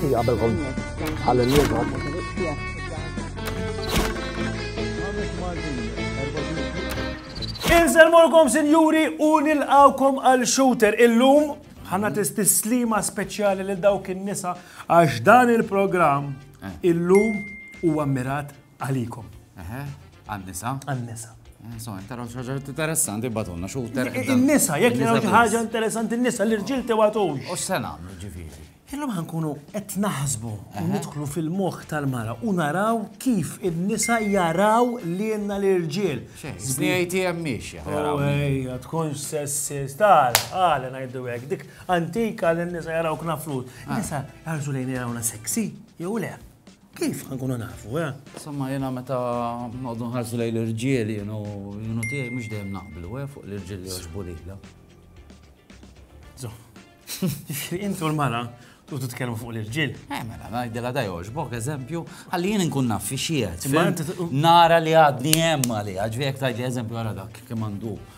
Għabelkom għal-nirgħod. Inselmolkom sinjuri u nilqawkom għal shooter illum ħana tistislima speċjali lil dawk in-nisa għax dan il-programm eh. illum huwa mirat Għalikom. Eħe, għan-nisa. Għan-nisa. Eh, so, taraw xaġa interessanti batunna, xu Il-nisa, jek li xi ħaġa interessanti n-nisa, l-irġil te għatux. U s-sena, ġifiri. Illum ħankunu qed naħsbu u nidħlu fil-moħħ tal-mara u naraw kif in-nisa jaraw li jenna l-irġiel. Żbijajti hemm miexja. Ejja, tkun sessis, tal, għal ngħidu hekk, dik antika li n-nisa jaraw knafrut. Ah. Nisa jarżu lejn jarawna seksi, jew le. Kif ħa nkunu nafu, eh? Insomma, jena meta noqdu nħarsu lej l-irġiel jenu jenu tiegħi mhux dejjem naqblu, eh, fuq l-irġiel li joġbu lilha. Zo. Intu l-mara tu titkellmu fuq l-irġiel. Eh, mela, ngħidilha da joġbok eżempju, għalli jien nkun naf fi xiet. Nara li għadni hemm għalli, ġvijek tajli eżempju għara dak kemm għandu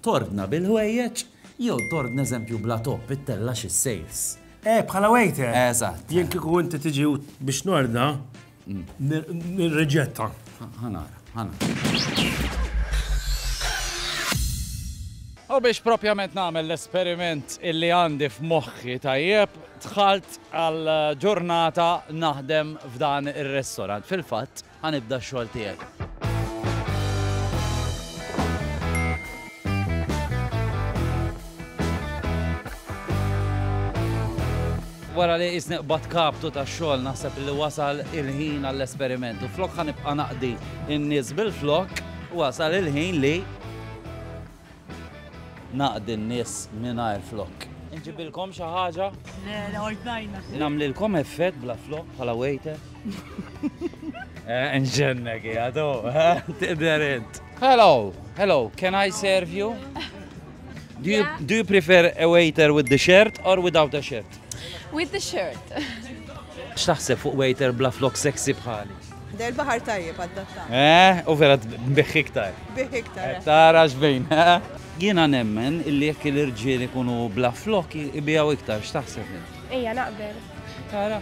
Tordna bil-ħwejjeġ jew tordna eżempju bla topp, ittella' xi safes. Eh, bħala waiter! Eżatt. Jien kieku inti tiġi biex nordna, nirriġetta. Ħa nara, ħa nara. U biex propjament nagħmel l-esperiment illi għandi f'moħħi tajjeb, dħalt għal ġurnata naħdem f'dan ir-restaurant. Fil-fatt, Ħa nibda x-xogħol tiegħek. Wara li qisni qbadt kaptu tax-xogħol naħseb li wasal il-ħin għall-esperiment u flok ħa nibqa' naqdi n-nies bil-flokk wasal il-ħin li Naqdi n-nies mingħajr flokk. Inġibilkom xi ħaġa? Le, le, ordnajna. Nagħmlilkom effett bla flokk bħala waiter? Nġennek hija tu, tidher int. Hello, hello, can I serve you? Do you, yeah. do you prefer a waiter with the shirt or without a shirt? With the shirt. X'taħseb fuq waiter bla flok sexy bħali? Del baħar tajjeb għaddatta. Eh, u vera biħ iktar. Biħ iktar. Eh, tara xbejn, eh? Jiena nemmen illi jekk l-irġiel ikunu bla flok ibijaw iktar, x'taħseb int? Ejja naqbel. Tara,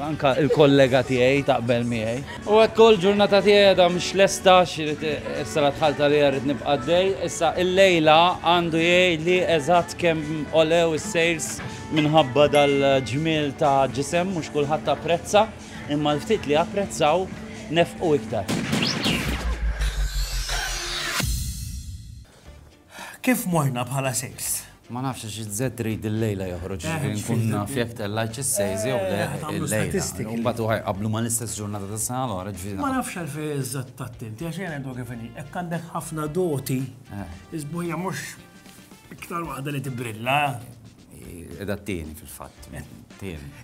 anka il-kollega tiegħi taqbel miegħi. U għed kol ġurnata tiegħi da mhux lesta x'irid issa la tħalta li rrid nibqa' dej, issa il-lejla għandu jgħid li eżatt kemm olew is-sejls minħabba dal-ġmiel ta' ġisem mhux kulħadd prezza. imma l-ftit li apprezzaw nefqu iktar. Kif morna bħala sales? Ma nafx xi żed trid il-lejla joħroġ eh, ġifieri nkun naf jekk tellajt is-sales jew le eh, il-lejla. Mbagħad u ħajqablu ma l-istess ġurnata ta' sena l-oħra ġifieri. Ma nafx għal fejn iżżatt tattinti għax jien għandu kif inhi. Hekk għandek ħafna doti, eh. iżbuħija mhux iktar waħda li tibrilla. Edha t-tieni fil-fatt.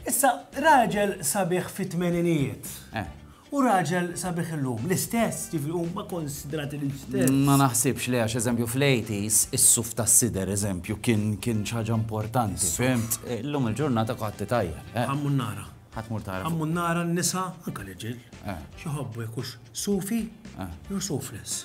Issa, raġel sabiħ fit-tmeninijiet. Eh. U raġel sabiħ illum, l-istess, ġifri u ma konsidrati l-istess. Ma naħsibx li għax eżempju fl-80s, is-suf ta' sider eżempju kien kien ċaġa importanti. Fimt, eh, illum il-ġurnata kħatti tajja. Għammun eh. nara. Għatmur tara. Għammun nara n-nisa, anka l-ġil. Xieħobbu jekux sufi, jew sufles.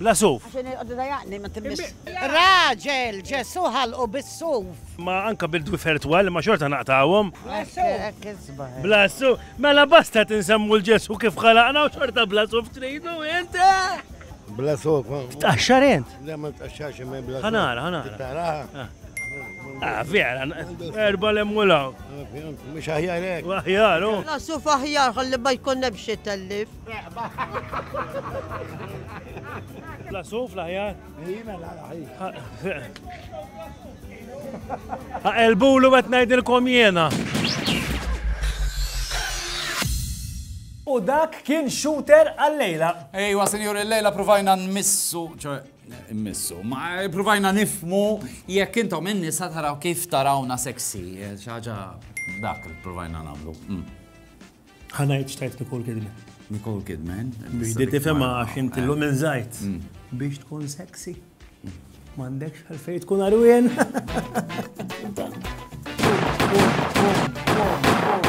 bla suf. Raġel, Ġesù ħalqu bis-suf. Ma anka bil-dwi fertwal imma xorta naqtgħuhom. Bla suf. Mela basta qed insemmu l-Ġesù kif ħalaqna u xorta bla suf tridu int. Bla suf. Tqaxxar int? Le ma tqaxxarx imma bla suf. Ħanara, ħanara. Ah, vera, erba l-emmulaw. Mux aħjar ek. Aħjar, u. Nasu faħjar, għalli ma jkun nebxie tellif. La suf la ħjar? Jina la ħjar. Elbulu għet najdilkom jena. U dak kien shooter għal-lejla. Ejwa, senjur, il-lejla provajna nmissu, ċe, nmissu, ma provajna nifmu jekk intom inni sa taraw kif tarawna seksi, ċaġa dak il-provajna namlu. Mm. Ħa ngħid x'tajt Nicole Kidman. Nicole Kidman. Biex di tifhimha għax inti l minn żajt. Mm. Biex tkun sexy. M'għandekx għalfej tkun arwien.